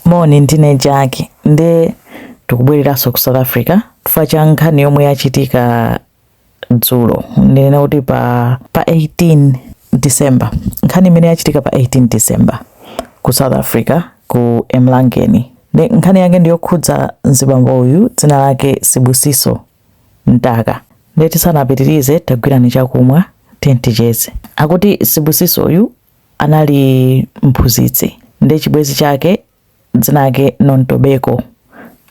Moni ndine Jack nde tikubwereranso ku South Africa chifukwa cha nkhani yomwe yachitika dzulo ndinena kuti pa, pa 18 December nkhani imene yachitika pa 18 December ku South Africa ku Umzinto nde nkhani yake ndiyokhudza mzibambo uyu dzina lake Sibusiso Ntaka nde tisanapitirize tagwirani chakumwa ticheze akuti Sibusiso uyu anali mphunzitsi ndi chibwezi chake dzina lake Nontobeko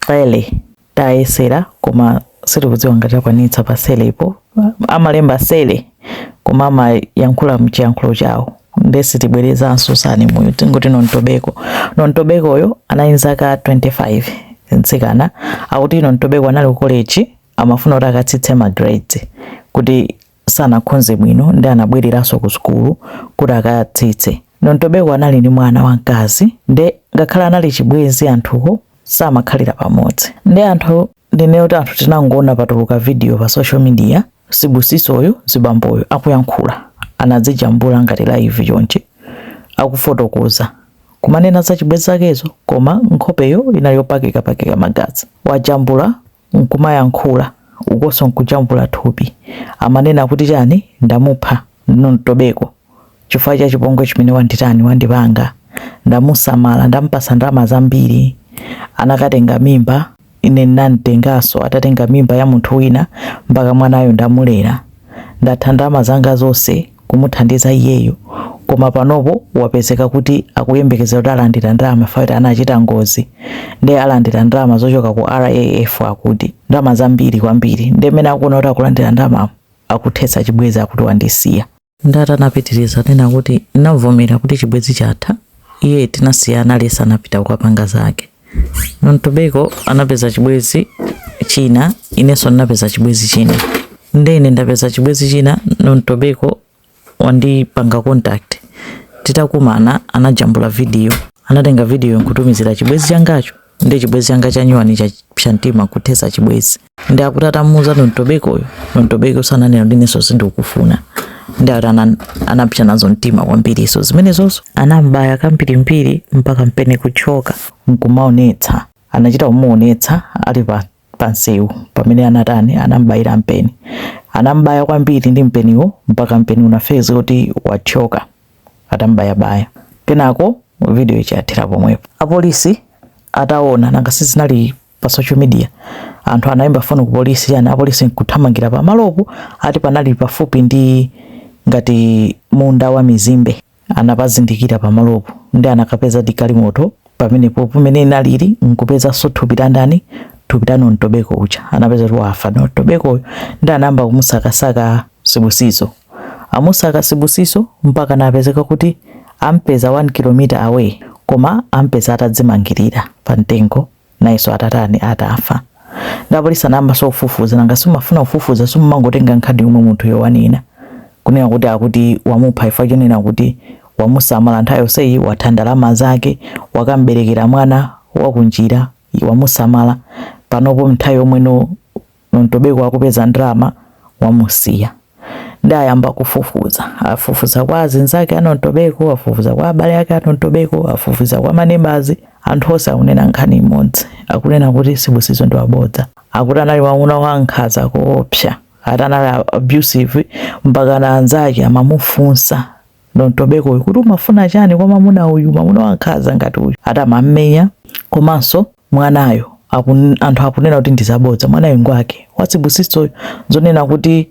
Cele tayesera koma sitikudziwa ngati takwanitsa pa Celepo amalemba Cele koma amayankhula mchiyankhulo chawo nde sitibwerezanso surname-yo tingoti Nontobeko Nontobekoyo anali zaka 25 mtsikana akuti Nontobeko anali ku college amafuna kuti akatsitse ma grades kuti sanakhonze bwino nde anabwereranso ku sukulu kuti akatsitse. Nontobeko anali ndi mwana wamkazi nde ngakhale anali chibwenzi anthuwo samakhalira pamodzi nde anthu ndinene kuti anthu tinangoona patuluka video pa social media Sibusisoyo mzibamboyo akuyankhula anadzijambula ngati live chonchi akufotokoza kumanena za chibwenzi zakezo koma nkhopeyo inali yopakapaka magazi wajambula nkumayankhula ukonso nkujambula thupi amanena kuti chani ndamupha Nontobeko chifukwa cha chipongwe chimene wanditani wandipanga ndamusamala ndamupatsa ndalama zambiri anakatenga mimba ine ndinamtenganso atatenga mimba ya munthu wina mpaka mwanayo ndamulera ndatha ndalama zanga zonse kumuthandiza iyeyu koma panopo wapezeka kuti akuyembekezera kuti alandira ndalama akuti anachita ngozi nde alandira ndalama zochoka ku RAF akuti ndalama zambiri kwambiri nde mmene akuona kuti akulandira ndalama akuthetsa chibwezi akuti wandisiya nde anapitiriza kunena kuti anavomera kuti chibwezi chatha iye tinasiyana lesa anapita kukapanga zake Nontobeko anapeza chibwezi china, inenso ndinapeza chibwezi china. Nde ine ndapeza chibwezi china, Nontobeko wandipanga contact. Titakumana anajambula video, anatenga video nkutumizira chibwezi changacho nde chibwezi changa chanyuwani cha mtima kuthetsa chibwezi. nde akuti atamuuza Nontobekoyo Nontobekoyo anangonena kuti inenso sindikufuna nde akuti anapsa nazo mtima kwambiri izo zimenezoso anambaya kambirimbiri mpaka mpeni kuthyoka nkumaonetsa anachita kumuonetsa ali pa pansewu pamene anatani anambayira mpeni anambaya kwambiri ndi mpeniwo mpaka mpeni unapezeka kuti wathyoka atambayabaya kenako video ikuthera pomwepo apolisi ataona nanga sizinali Pa social media, anthu anaimba foni ku polisi chani apolisi nkuthamangira pamalopo ati panali pafupi ndi ngati munda wa mizimbe anapazindikira pamalopo nde anakapeza di galimoto pamenepo pomwe inalili nkupezaso thupi la ndani thupi la Nontobeko uja anapeza kuti wafa Nontobeko nde anayamba kumusakasaka Sibusiso amusaka Sibusiso mpaka napezeka kuti ampeza 1 km away koma ampeza atadzimangirira pa mtengo nayeso atatani atafa nde apolisi anayambaso kufufuza nanga si amafuna kufufuza simumangotenga nkhani yomwe munthuyo wanena kunena kuti akuti wamupha chifukwa chonena kuti wamusamala nthawi yonseyi watha ndalama zake wakamberekera mwana wakunjira wamusamala panopo nthawi yomwe no ntobeko akupeza ndalama wamusiya nde ayamba kufufuza afufuza kwa azinzake a Nontobeko afufuza kwa abale ake a Nontobeko afufuza kwa manebazi anthu onse akunena nkhani imodzi akunena kuti Sibusiso ndi wabodza akuti anali wamuna wankhaza koopsa ati anali abusive mpaka na anzake amamufunsa Nontobeko uyu kuti umafuna chani kwa mamuna uyu mamuna wankhaza ngati uyu ati amammenya komanso mwanayo akun, anthu akunena kuti ndi zabodza mwanayo ngwake wa Sibusisoyo zonena kuti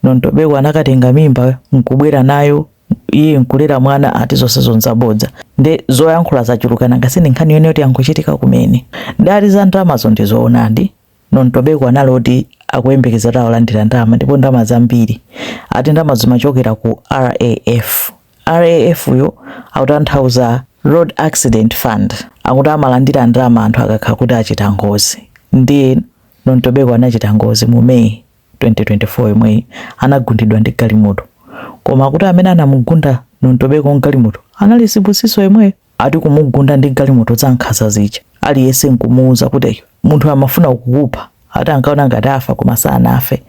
Nontobeko anakatenga mimba nkubwera nayo iye nkulera mwana ati zonsezo nzabodza nde zoyankhula zachuluka nanga si ndi nkhani yonena kuti yangochitika kumene nda, za ndalamazo ndi zoonadi Nontobeko anali oti akuyembekeza kuti alandira ndalama ndipo ndalama zambiri ati ndalama zimachokera ku RAF. RAF-yo akutanthauza Road Accident Fund akuti amalandira ndalama anthu akakhala kuti achita ngozi ndiye Nontobeko anachita ngozi mu May 2024 yomweyi anagundidwa ndi galimoto koma akuti amene anamugunda Nontobeko ndi galimoto anali Sibusiso yemweyo. ati kumugunda ndi galimoto za nkhaza zija aliyense nkumuuza kuti munthu amafuna kukupha ati ankaona ngati afa koma sanafe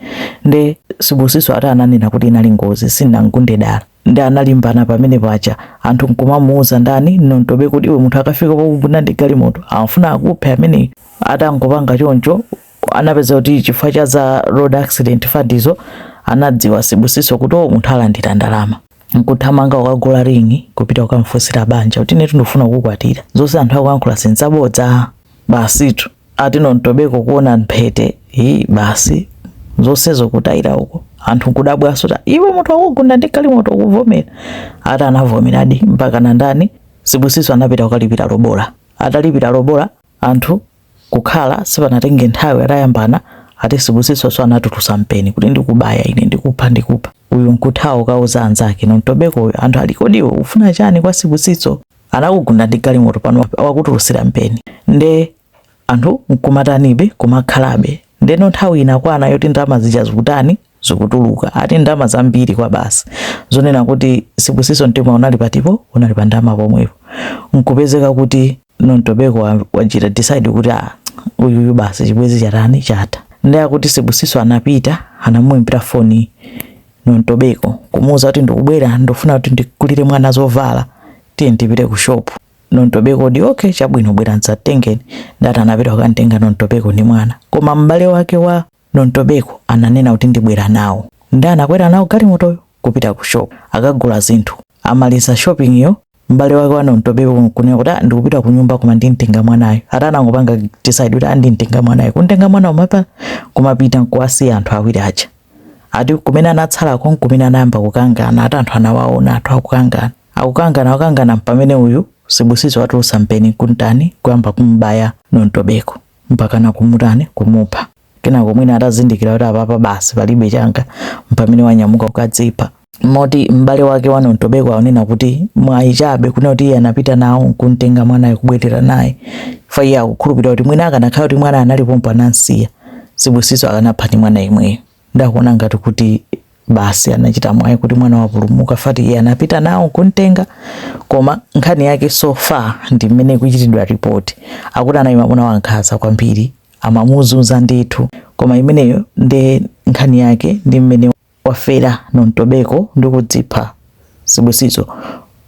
nde Sibusiso ati ananena kuti inali ngozi sinamgunde dala nde analimbana pamenepaja anthu nkumamuuza ndani Nontobeko kuti iwe munthu akafika pokugunda ndi galimoto amafuna akuphe ameneyo atangopanga choncho anapeza kuti chifukwa cha za road accident fund izo anadziwa Sibusiso kuti o munthu alandira ndalama nkuthamanga kukagula ring'i kupita kukamfunsira banja kuti inetu ndikufuna kukukwatira zonse anthu akuyankhula si nzabodza basitu ati Nontobeko kuona mphete hi basi zonsezo kutayira uko anthu nkudabwanso ta iwe munthu wakugunda ndi galimoto ukuvomera ati anavomeradi mpaka na ndani Sibusiso anapita kukalipira lobola atalipira lobola Anthu kukhala sipanatenge nthawi atayambana ati Sibusiso so anatulutsa mpeni kuti ndikubaya ine ndikupha ndikupha uyu nkuthawa kukauza anzake Nontobeko uyu anthu ali kodi iwe ufuna chani kwa Sibusiso anakugunda ndi galimoto pano wakutulutsira mpeni nde anthu nkumatanibe kumakhalabe ndeno nthawi inakwana yoti ndalama zija zikutani zikutuluka ati ndalama zambiri kwabasi zonena kuti Sibusiso mtima unali patipo unali pa ndalama pomwepo nkupezeka kuti Nontobeko wachita decide kuti ah, uyuyu basi chibwenzi chatani chatha ndiye akuti Sibusiso anapita anamuimbira foni Nontobeko kumuuza kuti ndikubwera ndofuna kuti ndigulire mwana zovala tiye tipite ku shop Nontobeko nde okay chabwino bwera mzatitenge nde ati anapita kukamtenga Nontobeko ndi mwana koma m'bale wake wa Nontobeko ananena kuti ndibwera nawo nde anakwera nawo galimotoyo kupita ku shop kukagula zinthu. Amaliza shopping yo m'bale wake wa Nontobeko nkunena kuti ah ndikupita kunyumba koma ndimtenga mwanayu. Ati anangopanga decide kuti ah ndimtenga mwanayu. Kumtenga mwana uja kumapita nkuwasiya anthu awiri aja. Ati kumene anatsalako nkumene anayamba kukangana ati anthu anawaona anthu akukangana. Akukangana akukangana mpamene uyu Sibusiso watulutsa mpeni nkutani nkuyamba kumubaya Nontobeko. mpakana kumutani kumupha kenako mwina atazindikira kuti apapa basi palibe changa mpamene wanyamuka kukadzipha moti m'bale wake wa Nontobeko akunena kuti mwayi chabe kunena kuti iye anapita nawo nkumtenga mwanayo kubwerera naye fa iye akukhulupirira kuti mwina akanakhala kuti mwanayo anali pompo anamsiya Sibusiso akanapha ndi mwana yemweyo nde akuona ngati kuti basi anachita mwayi kuti mwana wapulumuka fati iye anapita nawo kumtenga koma nkhani yake so far ndi mmene ikuchitidwa ripoti akuti anali mamuna wankhanza kwambiri amamuzunza ndithu koma imeneyo nde nkhani yake ndi mmene wafera Nontobeko ndi kudzipha Sibusiso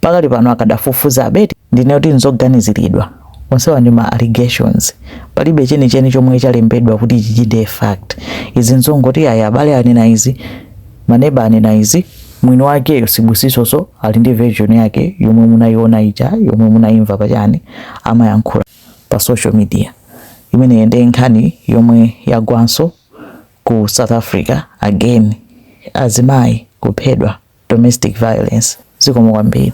pakali pano akadafufuzabe eti? Ndinene kuti nzoganiziridwa. Onsewa ndi ma allegations. Palibe chenicheni chomwe chalembedwa kuti ichi nde fact. Izi nzongoti ayi abale anena izi, ma neba anena izi, mwini wakeyo Sibusisonso ali ndi version yake yomwe munayiona ija yomwe munayimva pa chani amayankhula pa social media. Imeneyo nde nkhani yomwe yagwanso. Ku South Africa again azimayi kuphedwa domestic violence zikomo kwambiri.